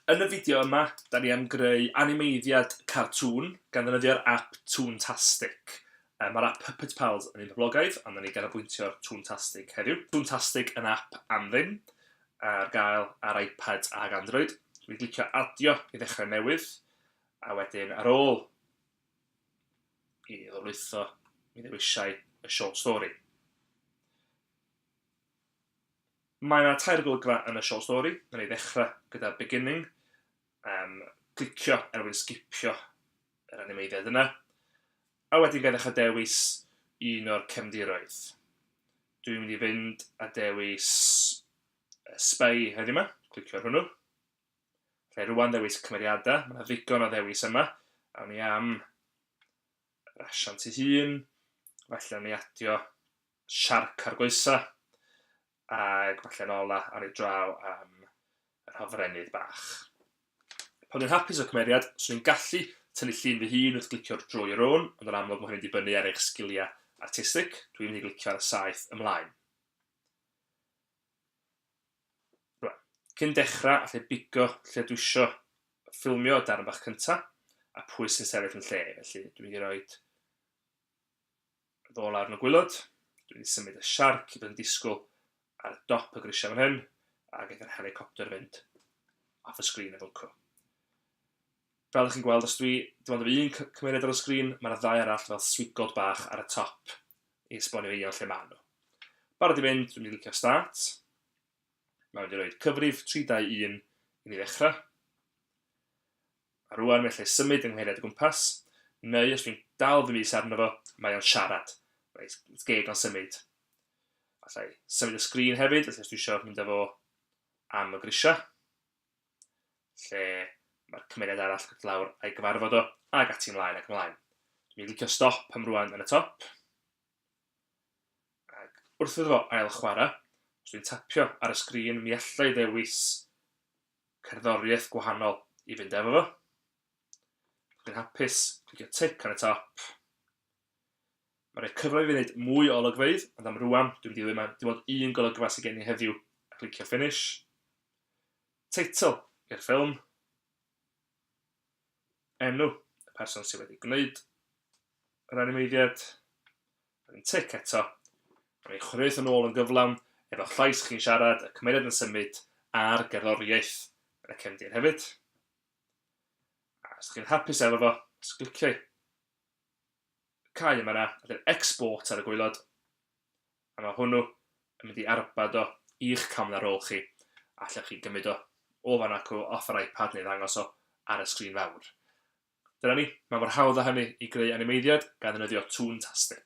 Yn y fideo yma, da ni am greu animeiddiad cartŵn gan ddefnyddio'r app Toontastic. Um, Mae'r app Puppet Pals yn un poblogaidd, a da ni ganolbwyntio'r Toontastic heddiw. Toontastic yn app am ddim, ar gael ar iPad ac Android. Dwi'n glicio adio i ddechrau newydd. A wedyn, ar ôl i ni ddolwytho, mi ddewisai y short story. Mae yna tair golygfa yn y short story. Mae yna ei ddechrau gyda beginning, um, clicio er mwyn sgipio yr animeiddiad yna, a wedyn gael ddechrau dewis un o'r cefndiroedd. Dwi'n mynd i fynd a dewis Spy heddiw yma, clicio ar hwnnw. Rhaid rwan ddewis cymeriadau, mae 'na ddigon o ddewis yma. Awn ni am yr asiant ei hun, falle awn ni adio siarc ar goesa, ac falle yn ola awn ni draw am yr hofrennydd bach. Pan dwi'n hapus o cymeriad, swn i'n gallu tynnu llun fy hun wrth glicio draw your own, ond yn amlwg mae hynny'n dibynnu ar eich sgiliau artistig, dwi'n mynd i glicio ar y saeth ymlaen. Cyn dechrau, allai bigo lle dwi isio ffilmio y darn bach cynta, a pwy sy'n sefyll yn lle, felly dwi'n mynd i roi ddo lawr yn y gwylod, dwi'n mynd i symud y siarc i fod yn disgwyl ar y dop y grisiau fan hyn, a gaeth yr helicopter fynd off y sgrin efo co. Fel dych chi'n gweld, os dwi, dim ond yr un cymeriad ar y sgrin, mae'r ddau arall fel swigod bach ar y top i esbonio i iawn lle maen nhw. Barod i fynd, dwi'n mynd i licio start. Mae'n mynd i roed cyfrif 321 i ni ddechrau. A rwan mae lle symud yng nghymeriad y gwmpas, neu os dwi'n dal fy mis arno fo, mae o'n siarad. Mae geg o'n symud. Alla i symud y sgrin hefyd, os dwi eisiau mynd â fo am y grisiau. lle mae'r cymeriad arall yn dod lawr a'i gyfarfod o, ac ati ymlaen ac ymlaen. Dwi'n licio stop am rwan yn y top. Ac wrth iddo fo ail chwarae, os dwi'n tapio ar y sgrin, mi allai ddewis cerddoriaeth gwahanol i fynd efo fo. Dwi'n hapus clicio tick ar y top. Mae rhaid cyfle i fi wneud mwy o olygfeydd, ond am rwan, dwi'n mynd i ddim dim ond un golygfa sydd gen i heddiw, a clicio finish. Teitl i'r ffilm. Enw y person sydd wedi gwneud yr animeiddiad. Rwy'n tic eto. Rwy'n ei chwaraeus yn ôl yn gyflawn, efo llais chi'n siarad, y cymeriad yn symud, a'r gerddoriaeth yn y cefndir hefyd. A os chi'n hapus efo fo, os cliciau cau yma na, a dyn export ar y gwaelod, a mae hwnnw yn mynd i arbad o i'ch camera ar ôl chi, a allwch chi gymryd o o fan ac o off yr iPad neu ddangos o ar y sgrin fawr. Dyna ni, mae mor hawdd â hynny i greu animeiddiad gan ddefnyddio Toontastic.